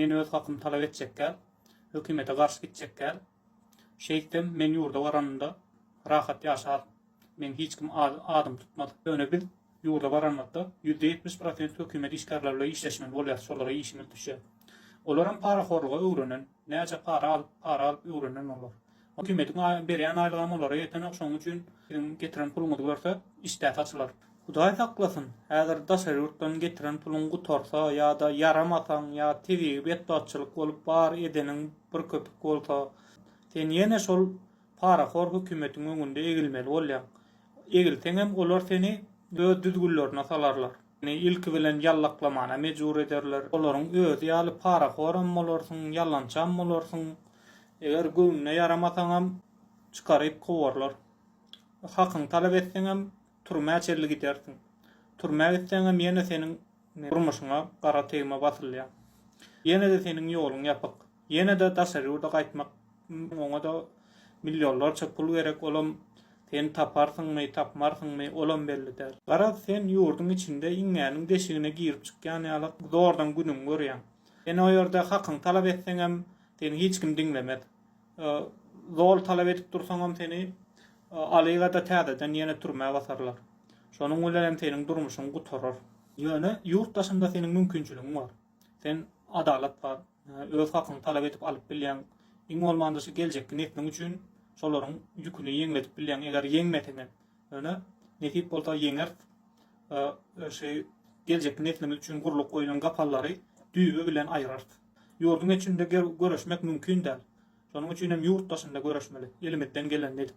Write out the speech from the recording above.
Men öz hakymy talap etjekkäm, hökümete garşy gitjekkäm. Şeýtsem, men ýurda baranymda rahat ýaşaryn. Meň hiç kim adym tutmaz. Ýöne biz ýurda baranymyzda ýüzde ýetmiş prosent hökümet işgärleri bilen işleşmeli bolýarys, şolara işimiz düşer. Olaram parahorluga öwrenen, näçe para alyp, para alyp öwrenen olar. Hökümetiň berýän aýlygam olara ýetenok şoň üçin siziň getiren puluňyzy görse işdä saçylar. Hudaý saklasyn häzir daşary ýurtdan getiren puluň gutarsa ýada ýaramasaň ýa tebigy betbagtçylyk bolup bar edeniň bir köpük bolsa sen ýene şol parahor hökümetiň öňünde egilmeli bolýaň egilseňem olar seni öz düzgünlerine salarlar. Seni ilki bilen ýallaklamana mejbur ederler. Olaryň özi ýaly parahoram bolarsyň, ýalançam bolarsyň. Eger göwnüne ýaramasaňam, çykaryp kowarlar. Hakyňy talap etseňem, türmä çenli gidersiň. Türmä gitseňem ýene seniň durmuşyňa gara tegme basylýar. Ýene-de seniň ýoluň ýapyk. Ýene-de daşary ýurda gaýtmak üçin oňa-da millionlarça pul gerek, olam sen taparsyňmy, tapmarsyňmy, olam belli däl. Garaz, sen ýurduň içinde iňňäniň deşigine girip çykýan ýaly zordan günüňi görýäň. Sen o ýerde hakyňy talap etseňem, seni hiç kim diňlemez. Zol talap edip dursaňam seni alyga-da täzeden ýene türmä basarlar. Şonuň bilenem seniň durmuşyň gutarar. Ýöne ýurt daşynda seniň mümkinçiligiň bar. Sen adalat bar. Öz hakyňy talap edip alyp bilýäň. Iň bolmanda şu geljekki nesliň üçin şolaryň ýüküni ýeňledip bilýäň. Eger ýeňmese hem, ýöne nesip bolsa ýeňeris. Şu geljekki neslimiz üçin gurlup goýlan gapallary düýbi bilen aýyrarys. Ýurduň içinde göreşmek mümkin däl. Şonuň üçin hem ýurt daşynda göreşmeli, elimizden gelenini edip.